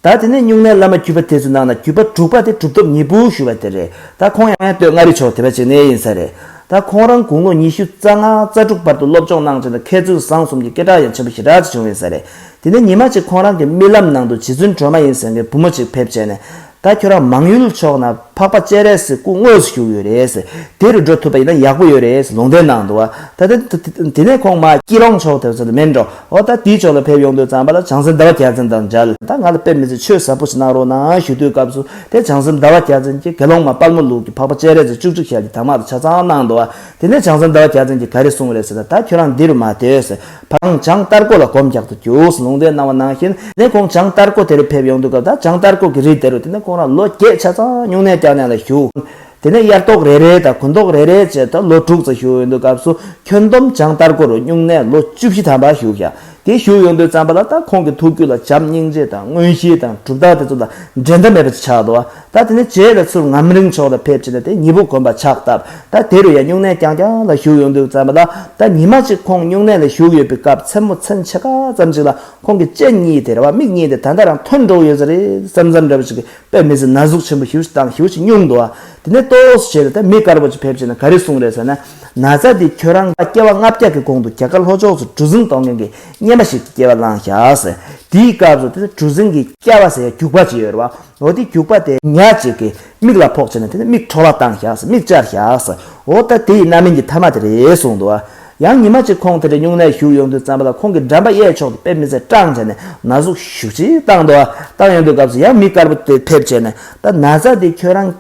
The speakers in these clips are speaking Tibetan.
ད་དེ་ནས་སྨྱུང་གནས་བླ་མ་བརྒྱུད་པ་དེ་ཚོའི་ནང་ན་བརྒྱུད་པ་དྲུག་པ་དེ་གྲུབ་ཐོབ་གཉིས་པོ་ཞུ་བ་དེ་རེད་ད་ཁོང་ཡང་ཡང་བསྟོད་མངའ་རིས་ཕྱོགས་དེ་བ་ཅིག་ནས་ཡིན་ས་རེད་ད་ཁོང་རང་དགུང་ལོ་ཉི་ཤུ་རྩ་ལྔ་རྩ་དྲུག་བར་དུ་སློབ་སྦྱོང་གནང་བྱུང་ད་མཁས་བཙུན་བཟང་གསུམ་གྱི་སྐད་གྲགས་ཡང་ཆེན་པོ་ཞེ་དྲག་ཅིག་བྱུང་ཡིན་ས་རེད་དེ་ནས་ཉི་མ་ཅིག་ཁོང་རང་གི་རྨི་ལམ་ནང་དུ་རྗེ་བཙུན་སྒྲོལ་མ་ཡིན་ཟེར་མཁན་བུ་མོ་ཅིག་ཕེབས་བྱས་ནས་ད་ཁྱོད་རང་མང་ཡུལ་ཕྱོགས་ན་འཕགས་པ་སྤྱན་རས་གཟིགས་སྐུ་དངོས་སུ་བཞུགས་ཡོད་རེད་དེ་རུ་འགྲོ་ཐུབ་པ་ཡིན་ན་ཡག་པོ་ཡོད་རེད་ལུང་བསྟན་གནང་འདུག་བ་ད་དེ་ནས་ཁོང་མ་སྐྱིད་རོང་ཕྱོགས་དེ་བ་ཚོ་ལ་མེད་འགྲོ། ཨོ་ད་དེའི་ཕྱོགས་ལ་ཕེབས་ཡོང་དུས་རྩམ་པ་ལ་བྱང་སེམས་ཟླ་བ་གྱ་བཙན་དང་མཇལ། ད་ང་ལ་ཕེབས་མི་ཚེ་ཆོས་ཟབ་པོ་ཞིག་གནང་རོགས་གནང་ཞུ་དུས་སྐབས་སུ་དེ་བྱང་སེམས་ཟླ་བ་གྱ་བཙན་གྱིས་དགེ་སློང་མ་དཔལ་མོ་ལུག་གི་འཕགས་པ་སྤྱན་རས་གཟིགས་བཅུ་གཅིག་ཞལ་གྱི་དྭངས་མ་དང་ཆ་ཚང་གནང་འདུག་དེ་ནས་བྱང་སེམས་ཟླ་བ་གྱ་བཙན་གྱིས་ག་རེ་གསུངས་རེད་ཟེར་ན་ད་ཁྱོད་རང་འདི་རུ་མ་སྡོད་ཟེར་བགྲང་བྱང་སྟར་ཀོ་ལ་གོམ་རྒྱག་ཏུ་བཅུག་ཟེར་ལུང་བསྟན་གནང་བ་ནང་བཞིན་ནས་ཁོང་བྱང་སྟར་ཀོ་དེ་རུ་ཕེབས་ཡོང་དུས་སྐབས་ད་བྱང་སྟར་ཀོ་གི་རི་དེ་རུ་དེ་ནས་ཁོང་རང་ལོ་བརྒྱད་ཆ་ཚང་སྨྱུང་གནས་བསྐྱར་ཉར་ལ་བཞུགས། དེ་ནས་དབྱར་ཐོག་རེ་རེ་དང་དགུན་ཐོག་རེ་རེ་བཅས་དང་ལོ་དྲུག་རྩ་ཞུགས་ཡོང་དུས་སྐབས་སུ་ཁྱོན་བསྡོམས་བྱང་ལྟར་སྒོ་རུ་བསྙུང་ནས་ལོ་བཅུ་བཞི་ཐམ་པ་བཞུགས་ཤག་དེ་བཞུགས་ཡོང་དུས་བརྩམས་པ་ལ་ད་ཁོང་གི་ཐུགས་རྒྱུད་ལ་བྱམས་སྙིང་རྗེ་དང་དངོས་གཞི་དང་གྲུབ་རྟགས་དེ་ཚོ་ལ་འགྲན་ཟླ་མེད་པ་ཅིག་ཆགས་འདུག་ཨ་ད་དེ་ནས་བྱས་ལ་ཚུར་ངམ་རིང་ཕྱོགས་ལ་ཕེབས་ཕྱིན་ན་དེ་མྱི་བུ་དགོན་པ་ཆགས་སྟབས་ད་དེ་རུ་ཡང་བསྙུང་ནས་རྐྱང་རྐྱང་ལ་བཞུགས་ཡོང་དུས་བརྩམས་པ་ལ་ད་ཉི་མ་གཅིག་ཁོང་བསྙུང་ནས་ལ་བཞུགས་ཡོད་པའི་སྐབས་མཚན་མོ་མཚན་ཕྱེད་ཀ་ཙམ་ཞིག་ལ་ཁོང་གི་སྤྱན་གཉིས་དེར་བ་མིག་གཉིས་དེ་ད་ལྟ་རང་ཐོན་འགྲོ་གི་ཡོད་ས་རེད་བསམ་བསམ་འདྲ་བོ་ཞིག་གིས་པད་མི་ཟེར་ན་གཟུགས་ཆེན་པོ་ཧིའུ་ཅིག་དང་ཧིའུ་ཅིག་སྙུང་འདུག་ཨ། དེ་ནས་ལྟོ་བོགས་སུ་བྱས་ཏེ་ད་མི་དཀར་པོ་ཅིག་ཕེབས་ཀྱིན་ན་ག་རེ་གསུངས་རེད་ཟེར་ན། ན་ཚ་འདི་ཁྱོད་རང་ལ་སྐྱེ་བ་ལྔ་བརྒྱ་གི་གོང་དུ་རྒྱ་གར་ལྷོ་ཕྱོགས་སུ་གྲུ་གཟིངས་གཏོང་མཁན་གྱི་རྙེད་པ་ཞིག་གི་སྐྱེ་བ་བླངས་བཞག། དེའི་སྐབས་སུ་དེ་ནས་གྲུ་གཟིངས་ཀྱི་སྐྱ་བ་ཟེར་ཡ་རྒྱུག་པ་ཅིག་ཡོད་རེད་བ། འོ་དེ་རྒྱུག་པ་དེ་ཉག་ཅིག་གི་མིག་ལ་ཕོག་བྱས་ན་དེ་ནས་མིག་འཕྲོག་བརླག་བཏང་བཞག་མིག་བཅར་བཞག། འོ་ད་དེ་ཡི་རྣམ་སྨིན་གྱི་མཐའ་མ་དེ་རེད་གསུངས་འདུག་ཨ། ཡང་ཉི་མ་གཅིག་ཁོང་དེ་འདྲའི་སྨྱུང་གནས་བཞུགས་ཡོང་དུས་རྩམ་པ་ལ་ཁོང་གིས་འགྲམ་པ་གཡས་ཕྱོགས་ཀྱི་པད་མི་ཚེ་སྐྲངས་བྱས་ནས་ན་ཟུག་ཤུགས་ཆེ་བཏང་འདུག་བཏང་ཡོང་དུས་སྐབས་སུ་ཡང་མི་དཀར་པོ་དེ་ཕེབས་བྱས་ནས་ད་ན་ཟ་འདི་ཁྱོད་རང་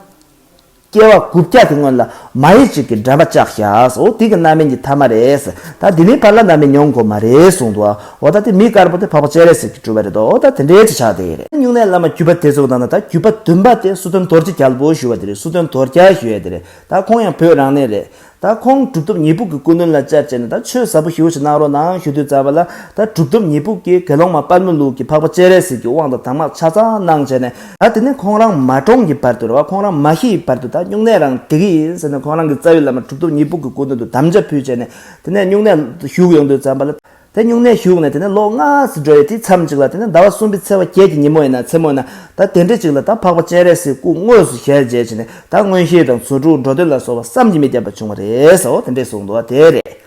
སྐྱེ་བ་དགུ་བརྒྱ་གི་སྔོན་ལ་མ་ཡི་གཅིག་གི་འགྲམ་པ་བཅག་བཞག་འོ་དེ་གི་རྣམ་སྨིན་གྱི་ཐ་མ་རེད་ད་དེ་མིན་བར་ལ་ན་མི་མྱོང་གོ་མ་རེད་གསུངས་འདུག་འོ་ད་དེ་མི་དཀར་པོ་དེ་འཕགས་པ་སྤྱན་རས་གཟིགས་ཀྱི་སྤྲུལ་བ་རེད་འདུག་འོ་ད་དེ་འདྲའི་བྱེད་ཕྱག་དེ་རེད། སྨྱུང་གནས་བླ་མ་བརྒྱུད་པ་དེ་ཚོ་དང་ན་ད་བརྒྱུད་པ་བདུན་པ་དེ་སུ་དོན་རྡོར་རྗེ་རྒྱལ་པོ་ཞུ་བ་དེ་རེད་སུ་དོན་རྡོར་རྒྱལ་ཞུ་ཡས་དེ་རེད་ད་ཁོང་ཡང་བོད་རང་གནས་རེད་ད་ཁོང་གྲུབ་ཐོབ་ཉེས་ཕུག་གི་སྐུ་གནོན་ལ་བཅར་བྱས་ནས་ད་ཆོས་ཟབ་པོ་ཞུ་བ་ཞིག་གནང་རོགས་གནང་ཞུ་དུས་ཙར་བ་ལ་ད་གྲུབ་ཐོབ་ཉེས་ཕུག་གིས་དགེ་སློང་མ་དཔལ་མོ་ལུགས་ཀྱི་འཕགས་པ་སྤྱན་རས་གཟིགས་ཀྱི་དབང་དང་དྭངས་མ་ཆ་ཚང་གནང་བྱས་ནས། ད་དེ་ནས་ཁོང་རང་མ་གྲོངས་ཀྱི་བར་དུ་རེ་བ་ཁོང་རང་མ་ཤི་ཡི་བར་དུ་ད་སྨྱུང་གནས་རང་འབྲི་གི་ཡིན་ཟེར་ནས་ཁོང་རང་གི་རྩ་བའི་བླ་མ་གྲུབ་ཐོབ་ཉེས་ཕུག་གི་སྐུ་གནོན་དུ་དམ་བཅའ་ཕུལ་བྱས་ནས་དེ་ནས་སྨྱུང་གནས་ཞུགས་ཡོང་དུས་ཙམ་བ་ལ། དེ་སྨྱུང་གནས་བཞུགས་ནས་དེ་ནས་ལོ་ལྔ་ཟིག་འགྲོ་ཡས་དེའི་མཚམས་གཅིག་ལ་དེ་ནས་ཟླ་བ་གསུམ་པའི་ཚེས་བ་བརྒྱད་ཀྱི་ཉིན་མོ་ཡིན་ན་མཚན་མོ་ཡིན་ན་ད་དེ་འདྲི་གཅིག་ལ་ད་འཕགས་པ་སྤྱན་རས་གཟིགས་སྐུ་དངོས་སུ་ཞལ་མཇལ་བྱས་ནས་ད་མངོན་ཤེས་དང་ཚུར་འགྲུག་འགྲོ་དོན་ལ་སོགས་པ་བསམ་གྱིས་མི་ཁྱབ་པ་བྱུང་བ་རེད་ཟོ་དེ་འདྲས་གསུངས་འདུག་བ་དེ་རེད།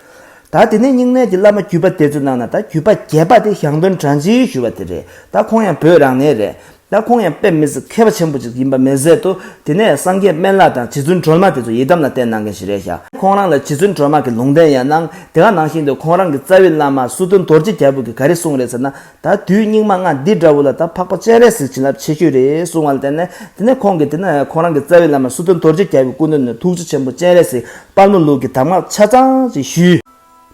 ད་དེ་ནས་སྨྱུང་གནས་ཀྱི་བླ་མ་བརྒྱུད་པ་དེ་ཚོའི་ནང་ན་ད་བརྒྱུད་པ་བརྒྱད་པ་དེ་ཞང་སྟོན་བྲང་ཆེའི་ཞུ་བ་དེ་རེད་ད་ཁོང་ཡང་བོད་རང་ནས་རེད་ལ་ཁོང་ཡང་དཔེ་མི་སྲིད་མཁས་པ་ཆེན་པོ་ཅིག་ཡིན་པ་མི་ཟད་དོ། དེ་ནས་སངས་རྒྱས་སྨན་བླ་དང་རྗེ་བཙུན་སྒྲོལ་མ་དེ་ཚོ་ཡི་དམ་ལ་བསྟེན་གནང་མཁན་ཞིག་རེད་ཤག་ཁོང་རང་ལ་རྗེ་བཙུན་སྒྲོལ་མ་གི་ལུང་བསྟན་ཡང་གནང་དེ་ག་ནང་བཞིན་དུ་ཁོང་རང་གི་རྩ་བའི་བླ་མ་སུ་དོན་རྡོ་རྗེ་རྒྱལ་པོ་གི་ག་རེ་གསུང་རེད་ཟེར་ན་ད་དུས་སྙིགས་མ་ལྔ་འདི་འདྲ་བོ་ལ་ད་འཕགས་པ་སྤྱན་རས་གཟིགས་བྱིན་རླབས་ཆེ་ཤོས་རེད་གསུང་བ་ལ་བརྟེན་ནས་དེ་ནས་ཁོང་གི་དེ་ན་ཁོང་རང་གི་རྩ་བའི་བླ་མ་སུ་དོན་རྡོ་རྗེ་རྒྱལ་པོའི་སྐུ་མདུན་ནས་ཐུགས་རྗེ་ཆེན་པོ་སྤྱན་རས་གཟིགས་དཔལ་མོ་ལུགས་ཀྱི་གདམས་ངག་ཆ་ཚང་ཅིག་ཞུས།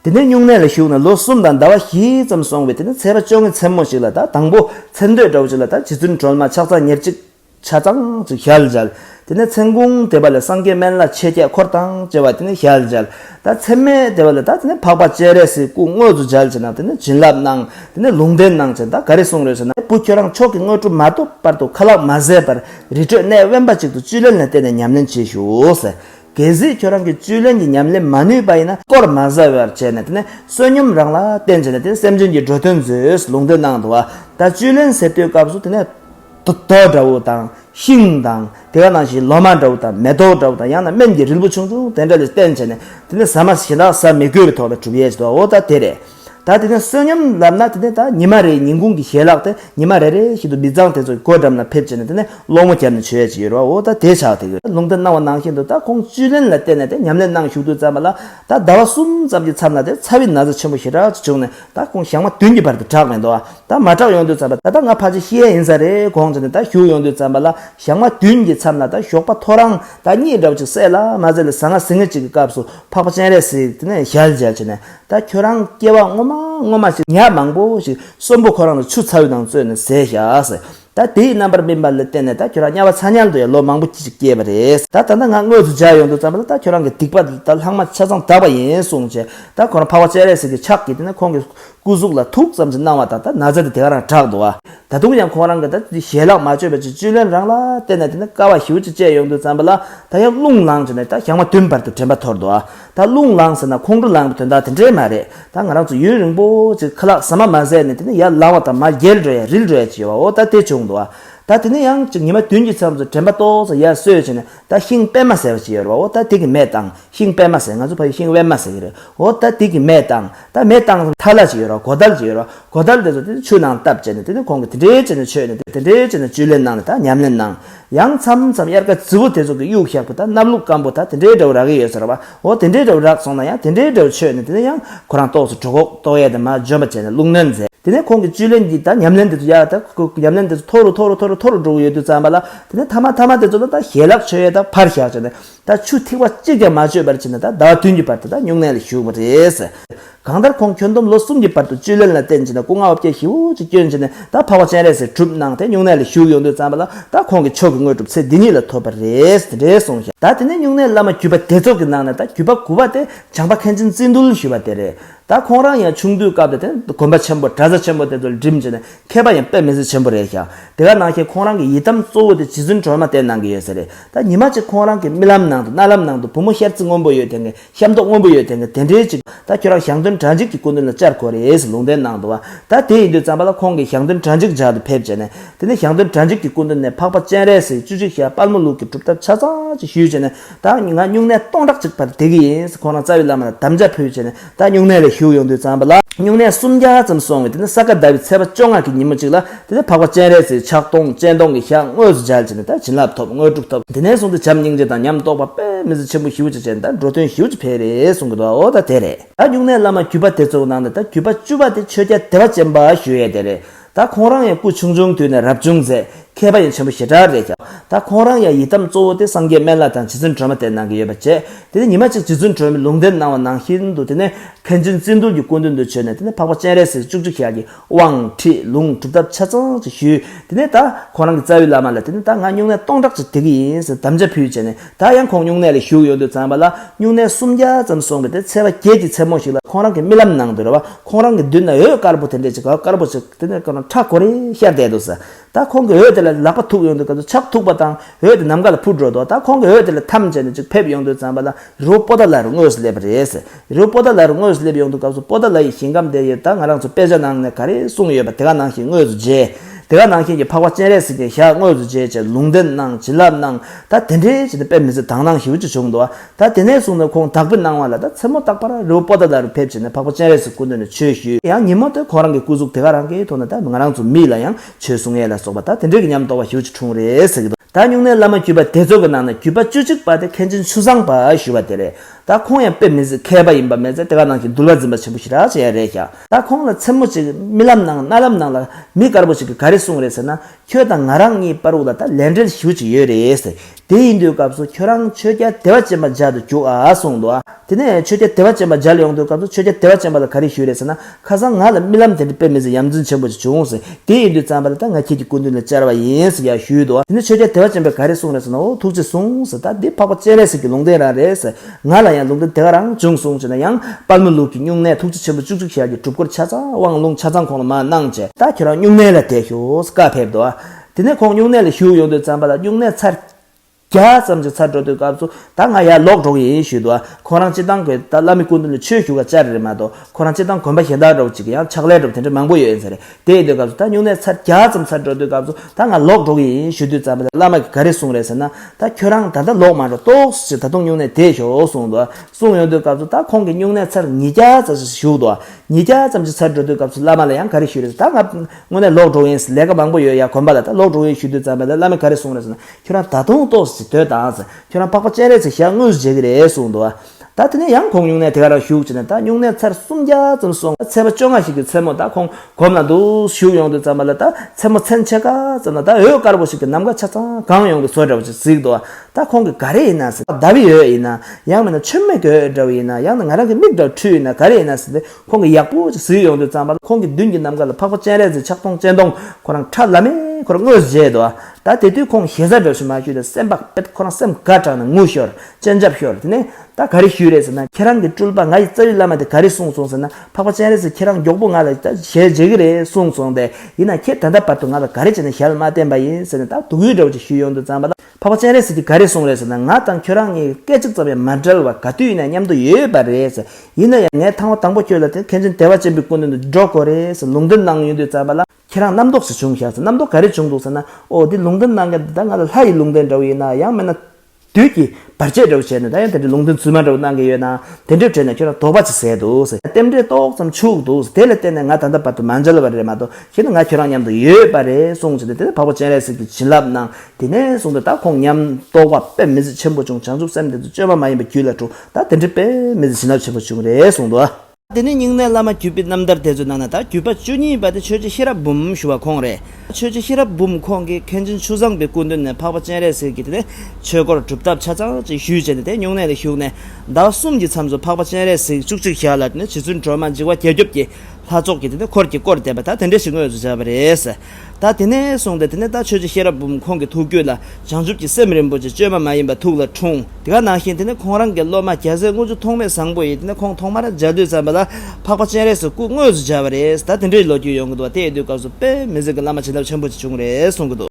དེ་ནས་སྨྱུང་གནས་ལ་བཞུགས་ནས་ལོ་གསུམ་དང་ཟླ་བ་བཞི་ཙམ་སོང་བས་དེ་ནས་ཚལ་པ་བཅོ་ལྔའི་མཚན་མོ་ཞིག་ལ་དང་དང་པོ་མཚན་ཐོས་འདྲ་བོ་ཞིག་ལ་ད་ཇི་ཚུན་གྲོལ་མ་ཆག་ཚང་ཉེར་གཅིག་ཆ་ཚང་ཚུལ་ཞལ་མཇལ། དེ་ནས་མཚན་གུང་དེ་པ་ལ་སངས་རྒྱས་སྨན་བླ་ཆེ་ཁྱད་འཁོར་དང་བཅས་པ་དེ་ནས་ཞལ་མཇལ། ད་མཚན་མེ་དེ་པ་ལ་ད་དེ་ནས་འཕགས་པ་སྤྱན་རས་གཟིགས་སྐུ་དངོས་སུ་མཇལ་བྱས་ན་དེ་ནས་བྱིན་རླབས་གནང། དེ་ནས་ལུང་བསྟན་གནང་བྱས་ད་ག་རེ་གསུངས་རེ་ཟེར་ན། བུ་ཁྱོད་རང་མཆོག་གི་དངོས་གྲུབ་མ་ཐོབ་བར་དུ་ཁ་ལག་མ་ཟས་པར་རི་ཁྲོད་གནས་དབེན་པ་ཅིག་ཏུ་བཅུད་ལེན་ལ་བརྟེན་ནས་ཉམས་ལེན་བྱེད་ཞུ། གལ་སྲིད་ཁྱོད་རང་གིས་བཅུད་ལེན་གྱི་ཉམས་ལེན་མ་ནུས་པ་ཡིན་ན། དཀོར་མ་ཟ་བར་བྱས་ནས་དེ་ནས་བསོད་སྙོམས་རང་ལ་བསྟེན་བྱས་ནས་དེ་ནས་སེམས་ཅན་གྱི་འགྲོ་དོན་མཛོད་ལུང་སྟོན་གནང་འདུག་ད་བཅུད་ལེན་ཟེར་དུས་སྐབས་སུ་དེ་ནས། རྡོ་འདྲ་བོ་དང་ཤིང་དང་དེ་ག་ནང་བཞིན་ལོ་མ་འདྲ་བོ་དང་མེ་ཏོག་འདྲ་བོ་དང་ཡང་ན་སྨན་གྱི་རིལ་བུ་ཆུང་ཆུང་དེ་འདྲ་ལས་བསྟེན་བྱས་ནས་དེ་ནས་ཟ་མ་ཞེ་དག་ཟ་མི་དགོས་པའི་ཐོག་ལ་གྲུབ་ཡས་བྱེད་དོ་ད་དེ་རེད། ད་དེ་ནས་བསོད་སྙོམས་བསླབ་ན་དེ་ནས་ད་ཉི་མ་རེའི་ཉིན་གུང་གི་ཞལ་ལག་དེ་ཉི་མ་རེ་རེ་བཞིན་དུ་མི་གཙང་དེ་ཚོ་སྒོ་འགྲམ་ལ་ཕེབས་བྱས་ནས་དེ་ནས་སློང་མོ་བརྒྱབ་ནས་བྱོས་ཅི་ཡོད་རོགས་འོ་ད་དེ་ཕྱག་དེ་གོས་ལུང་དེ་གནང་བ་ནང་བཞིན་དུ་ད་ཁོང་བཅུད་ལེན་ལ་བརྟེན་ནས་དེ་ཉམས་ལེན་གནང་བཞུགས་དུས་ཙམ་པ་ལ་ད་ཟླ་བ་གསུམ་ཙམ་གྱི་མཚམས་ལ་དེ་ཚ་བི་ན་ཚ་ཆེན་པོ་ཞེ་དྲག་ཅིག་བྱུང་ནས་ད་ཁོང་ཞག་མ་བདུན་གྱི་བར་དུ་དྲག་མེད་འདུག་ད་མ་དྲག་ཡོང་དུས་ཙམ་པ་ད་ད་ང་ཕ་ཆེ་ཤི་ཡས་ཡིན་ས་རེད་གོང་བྱས་ནས་ད་བཞུགས་ཡོང་དུས་ཙམ་པ་ལ་ཞག་མ་བདུན་གྱི་མཚམས་ལ་ད་ཞོགས་པ་ཐོ་རངས་ད་གཉིད་འདྲ་བོ་ཅིག་སད་ལ་མ་སད་ལ་ཟ་ང་ཟི་ང་ཅིག་གི་སྐབས་སུ་འཕགས་པ་སྤྱན་རས་གཟིགས་དེ་ནས་ཞལ་མཇལ་བྱས་ནས་ད་ཁྱོད་རང་སྐྱེ་བ་སྔོན་མ་སྔོན་མ་ཞིག་ཉག་མང་པོ་ཞིག་གསོན་པོ་ཁོ་རང་ལ་ཆུ་ཚ་བའི་ནང་བཙོས་ནས་ཟས་བཞག་ཟེར་ད་དེའི་རྣམ་པར་སྨིན་པ་ལ་བརྟེན་ནས་ད་ཁྱོད་རང་དམྱལ་བ་ཚ་དམྱལ་དུ་ཡང་ལོ་མང་པོ་ཞིག་སྐྱེས་པ་རེད་ད་ད་ལྟ་ང་དངོས་སུ་འཇགས་ཡོང་འདུག་བསམ་པ་ལ་ད་ཁྱོད་རང་གི་སྡིག་པ་འདི་ད་ལྷག་མ་ཆ་ཚང་དག་པ་ཡིན་གསུངས་རྗེས་ད་ཁོ་རང་འཕགས་པ་སྤྱན་རས་གཟིགས་ཀྱི་ཕྱག་གིས་བསྟེན་ནས་ཁོང་གི་སྐུ་གཟུགས་ལ་ཐུགས་བསམ་གྱི་སྣང་བ་དང་ད་ན་ཚ་དེ་དེ་ག་རང་དྲག་འདུག་ད་དུང་ཡང་ཁོང་རང་གི་ད་འདི་ཞལ་ལག་མ་བཅོས་པའི་ཆུ་བཅུད་ལེན་རང་ལ་བརྟེན་ནས་དེ་ནས་ཀ་བ་ཞིབ་ཅིག་བཅད་ཡོང་འདུག་བསམ་པ་ལ་ད་ཡང་རླུང་ལངས་བྱུང་ནས་ད་ཞག་མ་བདུན་བར་དུ་དྲན་པ་འཐོར་འདུག་ད་རླུང་ལངས་ཟེར་ན་ཁོང་ཁྲོ་ལངས་པའི་དོན་དག་དེ་འདྲས་མ་རེད་ད་ང་རང་ཚོ་ཡུན་རིང་པོ་ཅིག་ཁ་ལག་ཟ་མ་མ་ཟས་ནས་དེ་ནས་ཡར་ལངས་བ་དང་མར་རྒྱལ་རོལ་ཡ་རིལ་རོལ་ཡ་བྱས་བ་འོ་ད་དེ་བྱུང་འདུག་ཨ་ད་དེ་ནས་ཡང་ཅིག་ཉི་མ་བདུན་གྱི་མཚམས་སུ་དྲན་པ་ཏོག་ཙམ་ཡར་སོས་བྱས་ནས་ད་ཤིང་པད་མ་ཟེར་བ་ཅིག་ཡོད་རེད་བ་འོ་ད་དེ་གི་མེ་བཏང་ཤིང་པད་མ་ཟེར་ང་ཚོ་ཕ་ཡུལ་ཤིང་དབལ་མ་ཟེར་གྱི་རེད་འོ་ད་དེ་གི་མེ་བཏང་ད་མེ་བཏང་ཚང་ཐ་ལ་ཅིག་ཡོད་རེད་བ་གོ་དལ་ཅིག་ཡོད་རེད་བ་གོ་དལ་དེ་ཚོ་དེ་ནས་ཆུ་ནང་བཏབ་བྱས་ནས་དེ་ནས་ཁོང་གིས་དེ་འདྲས་བྱས་ནས་ཆོས་ནས་དེ་འདྲས་བྱས་ནས་བཅུད་ལེན་གནང་ནས་ད་ཉམས་ལེན་གནང། ཡང་མཚམས་མཚམས་དབྱར་ཀ་རྫི་བོ་དེ་ཚོ་གི་གཡུག་བཞག་པོ་དག་སྣབས་ལུག་སྐམ་པོ་དག་དེ་འདྲའི་འདྲ་བོ་རག་གི་ཡོད་ཟེར་བ་འོ་དེ་འདྲའི་འདྲ་བོ་རག་སོང་ན་ཡང་དེ་འདྲའི་འདྲ་བོ་ཆོད་ནས་དེ་ནས་ཡང་ཁོ་རང་ཏོག་སུ་གྲོ་གོག་ཏོག་གཡས་དེ་མ་འཇོན་པ་བྱས་ནས་བླུག་སྣོན་མཛད། དེ་ནས་ཁོང་གི་བཅུད་ལེན་གྱི་དག་ཉམས་ལེན་དེ་ཚོ་ཡར་དག་གི་ཉམས་ལེན་དེ་ཚོ་མཐོ་རུ་མཐོ་རུ་མཐོ་རུ་མཐོ་རུ་འགྲོ་གི་ཡོད་དུས་བརྩམས་པ་ལ་དེ་ནས་མཐའ་མ་མཐའ་མ་དེ་ཚོ་ལ་དག་ཞལ་ལག་མཆོད་ཡས་དག་ཕར་བཞག་བྱས་ནས་ད་ཆུ་ཐིགས་པ་གཅིག་ཀྱང་མ་བཅོས་པར་ཕྱིན་ན་ད་ཟླ་བ་བདུན་གྱི་བར་དུ་ད་སྨྱུང་གནས་ལ་བཞུགས་པ་རེད། གང་ལྟར་ཁོང་ཁྱོན་བསྡོམས་ལོ་གསུམ་གྱི་བར་དུ་བཅུད་ལེན་ལ་བརྟེན་ཕྱིན་ན་སྐུ་ལྔ་བ་བརྒྱད་ཞི་བོ་ཅིག་སྐྱོན་ཕྱིན་ནས་ད་འཕགས་པ་སྤྱན་རས་གཟིགས་གྲུབ་གནང་སྟེ་སྨྱུང་གནས་ལ་བཞུགས་ཡོང་དུས་བརྩམས་པ་ལ་ད་ཁོང་གི་མཆོག་གི་དངོས་གྲུབ་ཚེ་འདི་ཉིད་ལ་ཐོབ་པ་རེད་དེ་འདྲའི་གསུངས་ཞིང། ད་དེ་ནས་སྨྱུང་གནས་བླ་མ་བརྒྱུད་པ་དེ་ཚོགས་ཀྱི་ནང་ནས་ད་བརྒྱུད་པ་དགུ་བ་དེ་བྱང་པ་མཁན་ཆེན་བརྩི་འདུལ་ཞུས་པ་དེ་རེད། ད་ཁོང་རང་ཡང་ཆུང་དུས་སྐབས་དེ་དེང་དགོན་པ་ཆེན་པོ་གྲྭ་ས་ཆེན་པོ་དེ་ཚོ་ལ་འགྲིམས་ཕྱིན་ནས་མཁས་པ་ཡང་དཔེ་མི་སྲིད་ཆེན་པོ་རེད་ཞག་དེ་ག་ནང་བཞིན་ཁོང་རང་གི་ཡི་དམ་གཙོ་བོ་དེ་རྗེ་བཙུན་གྲོལ་མ་དེ་གནང་གི་ཡོད་ས་རེད། ད་ཉི་མ་ཅིག་ཁོང་རང་གི་རྨི་ལམ་ནང་དུ་རྣ་ལམ་ནང་དུ་བུ་མོ་ཤར་རྩི་སྔོན་པོ་ཡོད་དེ་ངས་ཤ་མདོག་སྔོན་པོ་ཡོད་དེ་ངས་དེ་འདྲའི་ཅིག་ད་ཁྱོད་རང་ཞང་སྟོན་གྲ་འཇིགས་ཀྱི་སྐུ་མདུན་ལ་བཅར་གོ་རེས་ལུང་བསྟན་གནང་འདུག་ད་དེ་ཡིན་དུས་ཙམ་པ་ལ་ཁོང་གིས་ཞང་སྟོན་གྲ་འཇིགས་འཇགས་དུ་ཕེབས་བྱས་ནས་དེ་ནས་ཞང་སྟོན་གྲ་འཇིགས་ཀྱི་སྐུ་མདུན་ནས་འཕགས་པ་སྤྱན་རས་གཟིགས་བཅུ་གཅིག་ཞལ་དཔལ་མོ་ལུགས་ཀྱི་སྒྲུབ་ཐབས་ཆ་ཚང་ཅིག་ཞུས་བྱས་ནས་ད་ང་སྨྱུང་གནས་སྟོང་ཕྲག་གཅིག་བར་དེ་གི་ཡིན་ཁོང་རང་རྩ་བའི་བླ་མ་ལ་དམ་བཅའ་ཕུལ་བྱས་ནས་ད་སྨྱུང་གནས་ལས་ཞུགས་ཡོང་དུས་ཙམ་པ་ལ། སྨྱུང་གནས་སུམ་བརྒྱ་ཙམ་སོང་བའི་དུས་ན་ས་ག་ཟླ་བའི་ཚེས་པ་བཅོ་ལྔ་གི་ཉིན་མོ་གཅིག་ལ་དེ་ནས་འཕགས་པ་སྤྱན་རས་གཟིགས་ཕྱག་སྟོང་སྤྱན་སྟོང་གི་ཞག་དངོས་སུ་མཇལ་བྱས་ནས་ད་བྱིན་རླབས་ཐོབ་དངོས་གྲུབ་ཐོབ། དེ་ནས་བཟུང་སྟེ་བྱམས་སྙིང་རྗེ་དང་ཉམས་རྟོགས་པ་དཔལ་མི་ཟི་ཆེན་པོ་ཞི་བུ་ཆེ་བྱས་ནས་ད་འགྲོ་དོན་ཞི་བ་ཆུ་འཕེལ་རེད་གསུང་གི་འདུག་བ་འོ་ད་དེ་རེད། ད་སྨྱུང་གནས་བླ་མ་གུས་པ་དེ་ཚོའི་ནང་ནས་ད་གུས་པ་བཅུ་པ་དེ་ཆོས་རྒྱལ་དེ་བ་ཅན་པ་ཞུ་ཡས་དེ་རེད་ད་ཁོང་རང་ཡང་སྐུ་ཆུང་ཆུང་དུས་ནས་རབ་བྱུང་མཛད་མཁས་པ་ཡི་ཆེན་པོ་ཞེ་དྲག་རེད་ཀྱང་ད་ཁོང་རང་ཡང་ཡི་དམ་གཙོ་བོ་དེ་སངས་རྒྱས་སྨན་བླ་དང་རྗེ་བཙུན་སྒྲོལ་མ་དེ་གནང་གི་ཡོད་པ་བཅས་དེ་ནས་ཉི་མ་གཅིག་རྗེ་བཙུན་སྒྲོལ་མས་ལུང་བསྟན་གནང་བ་ནང་བཞིན་དུ་དེ་ནས་མཁན་ཆེན་བརྩེ་འདུལ་གྱི་སྐུ་མདུན་དུ་བྱོན་ནས་དེ་ནས་འཕགས་པ་སྤྱན་རས་གཟིགས་བཅུ་གཅིག་ཞལ་གྱི་དབང་ཁྲིད་ལུང་གྲུབ་ཐབས་ཆ་ཚང་ཅིག་ཞུས་དེ་ནས་ད་ཁོང་རང་གི་རྩ་བའི་བླ་མ་ལ་དེ་ནས་ད་ང་སྨྱུང་གནས་སྟོང་ཕྲག་ཅིག་དེ་གི་ཡིན་ཟེར་དམ་བཅའ་ཕུལ་བྱས་ནས་ད་ཡང་ཁོང་སྨྱུང་གནས་ལས་བཞུགས་ཡོད་དུས་ཙམ་པ་ལ་སྨྱུང་གནས་སུམ་བརྒྱ་ཙམ་སོང་གི་དེ་ཚེ་བ་རྒྱལ་གྱི་མཚན་མོ་ཞིག་ལ་ཁོང་རང་གི་རྨི་ལམ་ནང་དུ་རེ་བ་ཁོང་རང་གི་མདུན་ན་འོད་དཀར་པོ་དེ་འདྲས་ཅིག་ག་འོད་དཀར་པོ་ཞིག་དེ་འདྲས་ཁོ་རང་ཁྲག་གོ་རེ་ཤར་བསྡད་འདུག་ཟེར། ད་ཁོང་གི་འོད་དེ་ལ་ལག་པ་ཐུག་ཡོང་དུས་ག་ཚོད་ཆག་ཐུག་པ་དང་འོད་དེ་ནམ་མཁའ་ལ་འཕུར་འགྲོ་འདུག་ད་ཁོང་གི་འོད་དེ་ལ་ཐམས་ཅད་ནས་ཅིག་ཕེབས་ཡོང་དུས་ཙམ་པ་ལ་རི་བོ་པོ་ཏ་ལ་རི་ངོས་སུ་སླེབས་པ་རེད། རེའུ་སྤོ་ད་ལར་དངོས་སུ་སླེབས་ཡོང་འདུག་སྐབས་སུ་སྤོ་ད་ལ་ཡི་ཞིང་ཁམས་དེར་ཡོད་ད་ང་རང་ཚོ་དཔེ་ཆ་ནང་ནས་ག་རེ་གསུངས་ཡོད་པ་དེ་ག་ནང་བཞིན་དངོས་སུ་མཇལ། དེ་ག་ནང་མཁན་གྱི་འཕགས་པ་སྤྱན་རས་གཟིགས་ཀྱི་ཞག་དངོས་སུ་མཇལ་བཅས་ལུང་བསྟན་གནང་བྱིན་རླབས་གནང་ད་དེ་འདྲའི་བྱས་ཏེ་དཔེ་མི་ཚེ་དྭངས་གནང་ཞིབ་ཅིག་བྱུང་འདུག་ད་དེ་ནས་བཟུང་ནས་ཁོང་དྭགས་པོའི་སྣང་བ་ལ་ད་མཚན་མོ་རྟག་པར་རེའུ་སྤོ་ད་ལ་རུ་ཕེབས་བྱས་ནས་འཕགས་པ་སྤྱན་རས་གཟིགས་སྐུ་མདུན་ནས་ཆོས་ཞུས། ཡང་ཉིན་མོ་དེར་ཁོང་རང་གི་སྐུ་གཟུགས་དེ་ག་རང་གི་ཐོག་ནས་ད་ང་རང་ཚོ་མི་ལ་ཡང་ཆོས་གསུང་ངེས་ལ་སོགས་པ་ད་དེ་འདྲའི་གི་ཉམས་རྟོགས་པ་ཞིབ་ཅིག་འཁྲུངས་རེད་ཟེར་གྱི་འདུག་ད་སྨྱུང་གནས་བླ་མ་གུས་པ་དེ་ཚོ་གི་ནང་ནས་གུས་པ་བཅུ་གཅིག་པ་དེ་མཁན་ཆེན་ཆུ་བཟང་པ་ཞུས་པ་དེ་རེད། ད་ཁོང་ཡང་དཔེ་མི་གཟིགས་མཁས་པ་ཡིན་པ་མེད་ཚེ་དེ་ག་ནང་བཞིན་འདུལ་བ་འཛིན་པ་ཆེན་པོ་ཞིག་རག་བྱེད་ཡ་རེད་ཞག་ད་ཁོང་ལ་མཚན་མོ་ཅིག་རྨི་ལམ་ནང་རྣ་ལམ་ནང་ལ་མི་དཀར་པོ་ཞིག་གིས་ག་རེ་གསུངས་རེད་ཟེར་ན་ཁྱོད་དང་ང་རང་གཉིས་དཔའ་རུག་ལ་ད་ལས་འབྲེལ་ཞུ་བྱེད་ཡོད་རེད་ཟེར་དེ་ཡིན་དུས་སྐབས་སུ་ཁྱོད་རང་ཆོས་རྒྱལ་དེ་བ་ཅན་པ་མཇལ་དུ་རྒྱུག་ཨ་གསུངས་འདུག་ཨ་དེ་ནས་ཆོས་རྒྱལ་དེ་བ་ཅན་པ་མཇལ་ཡོང་དུས་སྐབས་སུ་ཆོས་རྒྱལ་དེ་བ་ཅན་པ་ལ་ག་རེ་ཞུས་རེད་ཟེར་ན་ཁ་སང་ང་ལ་རྨི་ལམ་དེ་འདྲ་དཔེ་མེད་ཟེར་ཡམ་རྫུན་ཆེན་པོ་ཞིག་བྱུང་ཟེར་དེ་ཡིན་དུས་རྩམ་པ་ལ་ད་ང་ཁྱེད་ཀྱི་སྐུ་མདུན་ལ་བཅར་བ་ཡིན་ཟེར་ཡག་ཞུས་དུ་བ་དེ་ནས་ཆོས་རྒྱལ་དེ་བ་ཅན་པས་ག་རེ་གསུངས་རེད་ཟེར་ན་འོ་ཐུགས་རྗེས་གསུངས་ཟེར་ད་འདི་འཕགས་པ་སྤྱན་རས་གཟིགས་ཀྱི་ལུང་བསྟན་རང་རེད་ཟེར་ང་ལ་ཡང་ལུང་བསྟན་དེ་ག་རང་བྱུང་གསུངས་བྱས་ན་ཡང་དཔལ་མོ་ལུགས་ཀྱི་སྨྱུང་གནས་ཐུགས་རྗེ་ཆེན་པོ་བཅུ་གཅིག་ཞལ་གྱི་སྒྲུབ་སྐོར་ཆ་ཚང་དབང་ལུང་ཆ་ཚང་ཁོང་ལ་མ་གནང་བྱས། ད་ཁྱེད་རང་སྨྱུང་གནས་ལ་དེད་ཞོག་ཟེར་བཀའ་ཕེབས་དུ་བ་དེ་ནས་ཁོང་སྨྱུང་གནས་ལ་བཞུགས་ཡོང་དུས་རྩམ་པ་ལ་སྨྱུང་གནས་ཚར་བརྒྱ་ཙམ་གྱི་ཚར་འགྲོ་དུས་སྐབས་སུ་ད་ང་ཡར་ལོག་འགྲོ་གི་ཡིན་ཞུས་འདུག་ཁོ་རང་སྤྱི་བཏང་གོས་ད་བླ་མི་སྐུ་མདུན་དུ་ཆོས་ཞུ་ག་ཅར་རེད་མ་གཏོགས་ཁོ་རང་སྤྱི་བཏང་གོན་པ་གཞན་དག་འགྲོ་གི་ཅིག་ཡང་ཕྱག་ལས་སྒྲུབ་དེ་འདྲ་མང་པོ་ཡོད་ཟེར་དེའི་དུས་སྐབས་སུ་ད་སྨྱུང་གནས་ཚར་བརྒྱ་ཙམ་ཚར་འགྲོ་དུས་སྐབས་སུ་ད་ང་ལོག་འགྲོ་གི་ཡིན་ཞུ་དུས་ཙམ་ལ་བླ་མ་གིས་ག་རེ་གསུངས་རེད་ཟེར་ན་ད་ཁྱོད་རང་ད་ལྟ་ལོག་མ་འགྲོ་གཏོགས་ཞེས་ད་དུང་སྨྱུང་གནས་དེད་ཞོག་གསུངས་འདུག་གསུངས་ཡོང་དུས་སྐབས་སུ་ད་ཁོང་གིས་སྨྱུང་གནས་ཚར་ཉིས་བརྒྱ་ཙམ་ཞིག་ཞུགས་འདུག་ཉིས་བརྒྱ་ཙམ་ཞིག་ཚར་འགྲོ་དུས་སྐབས་སུ་བླ་མ་ལ་ཡང་ག་རེ་ཞུས་རེད་ཟེར་ད་ང་དངོས་གནས་ལོག་འགྲོ་གི་ཡིན་ཟེར་ལས་ཀ་མང་པོ་ཡོད་ཡ་གོན་པ་ལ་ད་ལོག་འགྲོ་གི་ཡིན་ཞུས་དུས་ཙམ་ལ་བླ་མས་ག་རེ་གསུངས་རེད་ཟེར་ན་ཁྱོད་རང་ད་དུང་ཏོག་ཟི་དོད་དང། ཁྱོད་རང་འཕགས་པ་སྤྱན་རས་གཟིགས་ཞལ་དངོས་སུ་མཇལ་གྱི་རེད་གསུངས་འདུག་ད་དེ་ནས་ཡང་ཁོང་སྨྱུང་གནས་དེ་ག་རང་བཞུགས་བྱས་ནས་ད་སྨྱུང་གནས་ཚར་གསུམ་བརྒྱ་ཙམ་སོང་ད་ཚེས་པ་བཅོ་ལྔ་ཞིག་གི་མཚན་མོ་ད་ཁོང་གོམ་ན་འདུག་བཞུགས་ཡོང་དུས་ཙམ་མ་ལ་ད་མཚན་མོ་མཚན་ཕྱེད་ཀ་ཙམ་ན་ད་འོད་དཀར་པོ་ཞིག་གི་ནམ་མཁའ་ཆ་ཚང་གང་ཡོང་གི་བཟོ་འདྲ་བོ་ཞིག་གཟིགས་འདུག་ད་ཁོང་གི་ག་རེ་ཡིན་ན་ཟེར་ན་ཟླ་བའི་འོད་ཡིན་ན་ཡང་མིན་ན་ཆུ་མིག་གི་འོད་འདྲ་བོ་ཡིན་ན་ཡང་ན་ང་རང་གི་མིག་འདྲ་བོ་འཁྲུལ་ཡིན་ན་ག་རེ་ཡིན་ན་ཟེར་ཏེ་ཁོང་གི་ཡག་པོ་ཞིག་གཟིགས་ཡོང་དུས་ཙམ་མ་ལ་ཁོང་གི་མདུན་གྱི་ནམ་མཁའ་ལ་འཕགས་པ་སྤྱན་རས་གཟིགས་ཕྱག་སྟོང་སྤྱན་སྟོང་ཁོ་རང་ཁྲ་ལམ་མེ་ཁོ་རང་དངོས་སུ་མཇལ་འདུག། ད་དེ་དུས་ཁོང་ཞེ་ས་འདྲ་ཞིག་མ་བྱོས་ད་སེམས་བག་ཕེབས་ཁོ་རང་སེམས་དགའ་དྲགས་ནས་ངུ་ཞོར་སྤྱན་ཆབ་ཤོར་དེ་ནས་ད་ག་རེ་ཞུས་རེད་ཟེར་ན་ཁྱེད་རང་གི་སྤྲུལ་པ་ང་ཡི་རྩ་བའི་བླ་མ་དེ་ག་རེ་གསུངས་སོང་ཟེར་ན་འཕགས་པ་སྤྱན་རས་གཟིགས་ཁྱེད་རང་མགྱོགས་པོ་ང་ལ་ད་ཞལ་འབྱེད་ཀྱི་རེད་གསུངས་སོང་སྟེ་ཡིན་ན་ཁྱེད་ད་ལྟ་བར་དུ་ང་ལ་ག་རེ་བྱས་ནས་ཞལ་མ་བསྟན་པ་ཡིན་ཟེར་ནས་ད་དུག་ཡུས་འདྲ་བོ་ཅིག་ཞུས་ཡོང་དུས་ཙང་པདྨ་འཕགས་པ་སྤྱན་རས་གཟིགས་ཀྱིས་ག་རེ་གསུངས་རེད་ཟེར་ན་ང་དང་ཁྱོད་རང་གཉིས་ཀྱི་སྐད་ཅིག་ཙམ་ཡང་མ་འབྲལ་བར་ག་དུས་ནས་མཉམ་དུ་ཡོད་པ་རེད་ཟེར་ཡིན་ན་ཡང་ངས་ཐང་བ་དང་པོ་ཁྱོད་ལ་དེ་མཁན་ཆེན་བདེ་བ་ཅན་པའི་སྐུ་མདུན་དུ་འགྲོ་དགོས་རེད་ཟེར་ལུང་འདྲེན་གནང་ཡོང་དུས་ཙང་པདྨ་ཁྱེད་རང་རྣམ་རྟོག་ཞིག་བྱུང་བཞག་ཚེ་རྣམ་རྟོག་ག་རེ་བྱུང་འདུག་ཟེར་ན། ཨོ་འདི་ལུང་སྟོན་གནང་མཁན་འདི་ད་ང་ལ་ལྷ་ཡི་ལུང་སྟོན་འདྲ་བོ་ཡིན་ན་ཡང་མིན་ན། དུས་ཀྱི་བར་ཆད་འདྲ་བོ་བྱས་ནས་ད་ཡང་དེ་འདྲའི་ལུང་སྟོན་རྫུན་མ་འདྲ་བོ་གནང་གི་ཡོད་ན། དེ་འདྲའི་ཁྲོད་ནས་ཁྱོད་རང་དོགས་པ་ཅིག་ཟད་འདུག་ཟེར། རྟེན་འབྲེལ་ཏོག་ཙམ་འཆུག་འདུག་ཟེར་དེ་ལ་བརྟེན་ནས་ང་ད་ལྟ་བར་དུ་མ་མཇལ་བ་རེད་མ་གཏོགས་ཁྱེད་ནི་ང་ཁྱེད་རང་མཉམ་དུ་ཡོད་པ་རེད་གསུངས་བྱས་ཏེ་དེ་ནས་འཕགས་པ་སྤྱན་རས་གཟིགས་ཀྱིས་བྱིན་རླབས་གནང། དེ་ནས་བཟུང་སྟེ་ད་ཁོང་ཉམས་རྟོགས་པ་དཔེ་མི་གཟིགས་ཆེན་པོ་བྱུང་བྱང་ཆུབ་སེམས་འདི་ཚོ་བཅོས་མ་མ་ཡིན་པའི་རྒྱུད་ལ་འཁྲུངས་ད་དེ་འདྲའི་དཔེ་མི་གཟིགས་བྱིན་རླབས་ཆེན་པོ་བྱུང་རེད་གསུངས་འདུག། དེ་ནས་རྙིང་མའི་བླ་མ་བརྒྱུད་པའི་རྣམ་ཐར་དེ་ཚོའི་ནང་ན་དང་བརྒྱུད་པ་བཅུ་གཉིས་པ་དེ་ཆོས་རྗེ་ཤེས་རབ་འབུམ་ཞུ་བ་ཁོང་རེད། ཆོས་རྗེ་ཤེས་རབ་འབུམ་ཁོང་གིས་མཁན་ཆེན་ཆུ་བཟང་པའི་སྐུ་མདུན་ནས་འཕགས་པ་སྤྱན་རས་གཟིགས་ཀྱི་དེ་ནས་ཆོས་སྐོར་སྒྲུབ་ཐབས་ཆ་ཚང་ཅིག་ཞུས་བྱས་ནས་དེ་སྨྱུང་གནས་ལ་བཞུགས་ནས་ཟླ་གསུམ་གྱི་མཚམས་སུ་འཕགས་པ་སྤྱན་རས་གཟིགས་བཅུ་གཅིག་ཞག་ལ་དེ་ནས་རྗེ་བཙུན་སྒྲོལ་མ་འཇིགས་བ་རྒྱལ་སྐྱོབ་ཀྱི་ལྷ་ཚོགས་ཀྱི་དེ་ནས་འཁོར་གྱི་སྐོར་བསྡད་པ་དང་དེ་འདྲ་ཞིག་དངོས་སུ་བྱས་པ་རེད། ད་དེ་ནས་བཟུང་སྟེ་དེ་ནས་ད་ཆོས་རྗེ་ཤེས་རབ་འབུམ་ཁོང་གི་ཐུགས་རྒྱུད་ལ་བྱང་ཆུབ་ཀྱི་སེམས་རིན་པོ་ཆེ་བཅོས་མ་མ་ཡིན་པ་ཐུགས་ལ་འཁྲུངས་དེ་ག་ནང་བཞིན་དེ་ནས་ཁོང་རང་གི་སློབ་མ་རྒྱལ་སྲས་དངུལ་ཆུ་ཐོགས་མེད་བཟང་པོ་ཡིས་དེ་ནས་ཁོང་ཐོག་མར་མཇལ་དུས་ཙམ་པ་ལ་འཕགས་པ་སྤྱན་རས་སུ་སྐུ་དངོས་སུ་མཇལ་བ་རེད་ད་དེ་འདྲའི་ལོ་རྒྱུས་ཡོང་གི་འདུག་བ་དེ་ཡི་དུས་སྐབས་སུ་དཔལ་མི་ཟིག་གི་བླ་མ་བྱིན་རླབས་ཆེན་པོ་ཅིག་བྱུང་རེད་གསུང་གི་འདུག་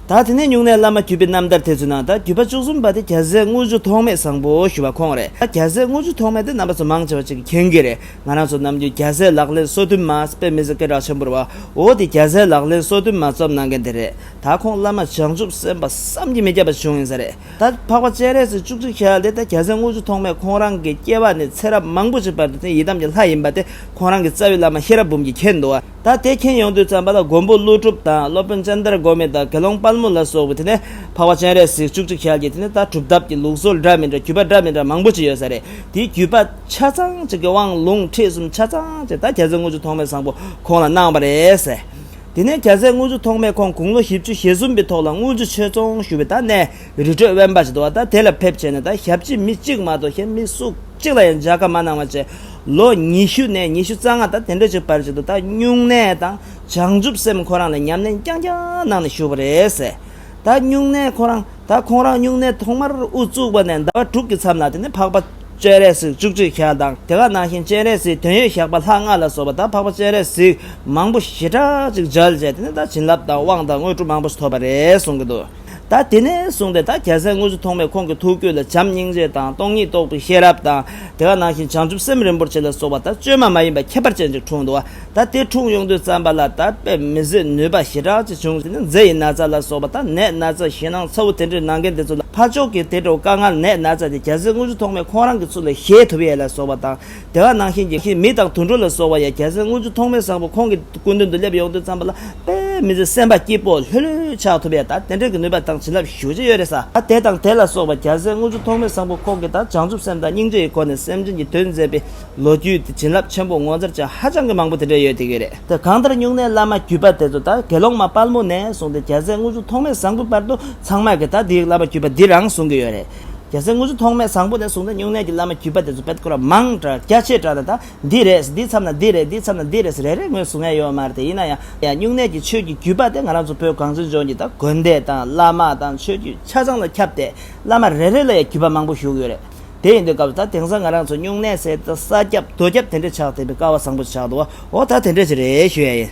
ད་དེ་ནས་ཉུང་ནས་བླ་མ་བརྒྱུད་པའི་རྣམ་ཐར་དེ་ཚོའི་ནང་ད་བརྒྱུད་པ་བཅུ་གསུམ་པ་དེ་རྒྱལ་སྲས་དངུལ་ཆུ་ཐོགས་མེད་བཟང་པོ་ཞུ་བ་ཁོང་རེད་ད་རྒྱལ་སྲས་དངུལ་ཆུ་ཐོགས་མེད་དེ་རྣམ་པ་ཚོ་མང་ཆེ་བ་གཅིག་གིས་མཁྱེན་གྱི་རེད། ང་རང་ཚོ་ནམ་རྒྱུན་རྒྱ་བཟའི་ལག་ལེན་སྲོལ་རྒྱུན་མ་རྩ་བའི་མི་ཚེ་སྐད་གྲགས་ཆེན་པོར་བའོ་དེ་རྒྱ་བཟའི་ལག་ལེན་སྲོལ་རྒྱུན་མ་རྩོམ་གནང་མཁན་དེ་རེད་ད་ཁོང་བླ་མ་བྱང་ཆུབ་སེམས་དཔའ་བསམ་གྱིས་མི་ཁྱབ་པ་བྱུང་ཡིན་ས་རེད་ད་འཕགས་པ་སྤྱན་རས་གཟིགས་བཅུ་གཅིག་ཞལ་དེ་ད་རྒྱ་བཟའི་དངུལ་ཆུ་ཐོག་མས་ཁོང་རང་གི་སྐྱེ་བ་ནས་ཚེ་རབས་མང་པོ་ཞིག་བར་དུ་འཛིན་ཡི་དམ་གྱི་ལྷ་ཡིན་པ་དེ་ཁོང་རང་གི་རྩ་བའི་བླ་མ་ཤེས་རབ་འབུམ་གྱིས་མཁྱེན་འདུག་ད་དེ་མཁྱེན་ཡོང་དུས་ཙམ་པ་ལ་མགོན་པོ་ཀླུ་སྒྲུབ་དང་སློབ་དཔོན་སྤྱན་དར་སྒོ་མེད་དང་དགེ་སློང་དཔལ་མོ་ལ་སོགས་པའི་དེ་ནས་འཕགས་པ་སྤྱན་རས་གཟིགས་བཅུ་གཅིག་ཞལ་གྱི་དེ་ནས་ད་གྲུབ་ཐོབ་ཀྱི་ལུགས་སྲོལ་འདྲ་མི་འདྲ་བརྒྱུད་པ་འདྲ་མི་འདྲ་མང་པོ་ཞིག་ཡོད་ས་རེད་དེའི་བརྒྱུད་པ། ཆ་ཚང་གཅིག་གི་དབང་ལུང་ཁྲིད་གསུམ་ཆ་ཚང་གཅིག་ད་གྱ་ཚོད་དངུལ་ཆུ་ཐོག་མའི་བཟང་པོ་ཁོང་ལ་གནང་བ་རེད། དེ་ནས་གྱ་ཚོད་དངུལ་ཆུ་ཐོག་མས་ཁོང་དགུང་ལོ་བཞི་བཅུ་ཞེ་གསུམ་པའི་ཐོག་ལ་དངུལ་ཆུ་ཆོས་ཚོང་ཞུ་བའི་ད་གནས་རི་ཁྲོད་དབེན་པ་ཞིག་ཏུ་བ་ད་དེ་ལ་ཕེབས་བྱས་ནས་ད་ཞབས་ཕྱི་མི་གཅིག་མ་གཏོགས་གཞན་མི་སུ་གཅིག་ལ་ཡང་འཇགས་སྐར་མ་གནང་བ་བཅས་ལོ་ཉི་ཤུ་ནས་ཉི་ཤུ་རྩ་ལྔ་ད་དེ་འདྲ་ཞིག་བར་ཞིག་ཏུ་ད་སྨྱུང་གནས་དང་བྱང་ཆུབ་སེམས་ཁོ་རང་ལ་ཉམས་ལེན་རྐྱང་རྐྱང་གནང་ནས་བཞུགས་པ་རེད། ད་སྨྱུང་གནས་ཁོ་རང་ད་ཁོང་རང་སྨྱུང་གནས་ཐོག་མར་དབུ་བཙུགས་པ་ནས་ཟླ་བ་དྲུག་གི་མཚམས་ལ་དེ་ནི་འཕགས་པ་སྤྱན་རས་གཟིགས་བཅུ་གཅིག་ཞག་དང་དེ་ག་ནང་བཞིན་སྤྱན་རས་གཟིགས་དོན་ཡོད་ཞགས་པ་ལྷག་ལྔ་ལ་སོགས་པ་ད་འཕགས་པ་སྤྱན་རས་གཟིགས་མང་པོ་ཞེ་དྲག་ཅིག་སྦྱར་བྱས་དེ་ནི་ད་བྱིན་རླབས་དང་དབང་དང་དངོས་གྲུབ་མང་པོ་ཞིག་ཐོབ་པ་རེད་གསུང་གི་འདུག་ད་དེ་ནས་བཟུང་སྟེ་ད་རྒྱལ་སྲས་དངོས་གཟུགས་ཐོག་མའི་ཁོང་གི་ཐུགས་རྒྱུད་ལ་བྱམས་སྙིང་རྗེ་དང་སྟོང་ཉིད་རྟོགས་པའི་ཤེས་རབ་དང་དེ་ག་ནང་བཞིན་བྱང་ཆུབ་སེམས་རིན་པོ་ཆེ་ལ་སོགས་པ་ད་བཅོས་མ་མ་ཡིན་པ་ཁྱད་པར་ཅན་ཅིག་འཁྲུངས་འདུག། ད་ལྟའི་འཁྲུངས་ཡོང་དུས་རྩམ་པ་ལ་དར་སྤེལ་མི་བཟོད་ནུས་པ་ཞེ་དྲག་ཅིག་བྱུང་ཞེ་ན་མཛེ་ཡི་ན་ཚ་ལ་སོགས་པ་དང་ནད་ན་ཚ་ཞེད་སྣང་ཚ་བོ་དེ་འདྲའི་ནང་མཁན་དེ་ཚོ་ལ་ཕར་ཕྱོགས་ཀྱི་དེ་འདྲ་བོ་དཀའ་ངལ་ནད་ན་ཚ་དེ་གྱ་ཚོའི་དངོས་གཞི་ཐོག་མའི་ཁོང་རང་གི་ཚུལ་ལ་ཤེས་ཐུབ་ཡས་ལ་སོགས་པ་དང་དེ་བ་ནང་བཞིན་གྱི་མི་དང་དུད་འགྲོ་ལ་སོགས་པ་ཡང་གྱ་ཚོའི་དངོས་གཞི་ཐོག་མའི་བཟང་པོ་ཁོང་གི་སྐུ་མདུན་དུ་སླེབས་ཡོང་དུས་རྩམ་པ་ལ་དཔལ་མི་བཟོད་སེམས་པ་སྐྱིད་པོ་ལྷོད་ལྷོད་ཆགས་ཐུབ་ཡས་དང་དེ་འདྲའི་གི་ནུས་པ་དང་བྱིན་རླབས་ཞུ་བྱེད་ཡོད་རེད་ས། ད་དེ་དང་དེ་ལ་སོགས་པ་གྱ་ཚོའི་དངོས་གཞི་ཐོག་མའི་བཟང་པོ་ཁོང་གི་དང་བྱང་ཆུབ་སེམས་དང་སྙིང་རྗེ་ཡི་སྒོ་ནས་སེམས་ཅན་གྱི་དོན་མཛད་པའི་ལོ་རྒྱུས་དེ་བྱིན་རླབས་ཆེན་པོ་ངོ་མཚར་ཅན་ཧ་ཅང་གི་མང་པོ་དེ་འདྲ་ཡོད་དེ་གི་རེད། དེ་གང་ལྟར་སྨྱུང་གནས་བླ་མ་བརྒྱུད་པ་དེ་ཚོ་ད་དགེ་སློང་མ་དཔལ་མོ་ནས་བཟུང་སྟེ་རྒྱལ་སྲས་དངུལ་གཟུགས་ཐོགས་མེད་བཟང་པོའི་བར་དུ་ཚང་མ་གི་ད་དེའི་བླ་མ་བརྒྱུད་པ་འདི་རང་གཟུང་གི་ཡོད་རེད། རྒྱལ་སྲས་དངུལ་གཟུགས་ཐོགས་མེད་བཟང་པོ་ནས་བཟུང་སྟེ་སྨྱུང་གནས་ཀྱི་བླ་མ་བརྒྱུད་པ་དེ་ཚོ་བེད་སྐོར་བ་མང་དྲགས་རྒྱ་ཆེ་དྲགས་ནས་ད་འདི་རེད་འདིའི་མཚམས་ན་འདི་རེད་འདིའི་མཚམས་ན་འདི་རེད་རེ་རེ་ངོས་བཟུང་ཡ་ཡོད་མ་རེད་དེ་ཡིན་ན་ཡང་སྨྱུང་གནས་ཀྱི་ཆོས་ཀྱི་བརྒྱུད་པ་དེ་ང་རང་ཚོ་བོད་གངས་ཅན་ལྗོངས་ཀྱི་ད་དགོན་སྡེ་དང་བླ་མ་དང་ཆོས་བརྒྱུད་ཆ་ཚང་ལ་ཁྱབ་སྟེ་བླ་མ་རེ་རེ་ལ་ཡང་བརྒྱུད་པ་མང་པོ་བཞུགས་ཡོད་རེད། དེ་ཡིན་དུས་སྐབས་ད་དེང་སང་ང་རང་ཚོ་སྨྱུང་གནས་སའི་ས་སྐྱབས་རྡོ་སྐྱབས་དེ་འདྲས་ཆགས་བསྡད་པའི་ཀ་བ་བཟང་པོ་ཞིག་ཆགས་འདུག་བ་འོ་ད་དེ་འདྲས་ཞིག་རེད་ཞུ་ཡ་ཡིན།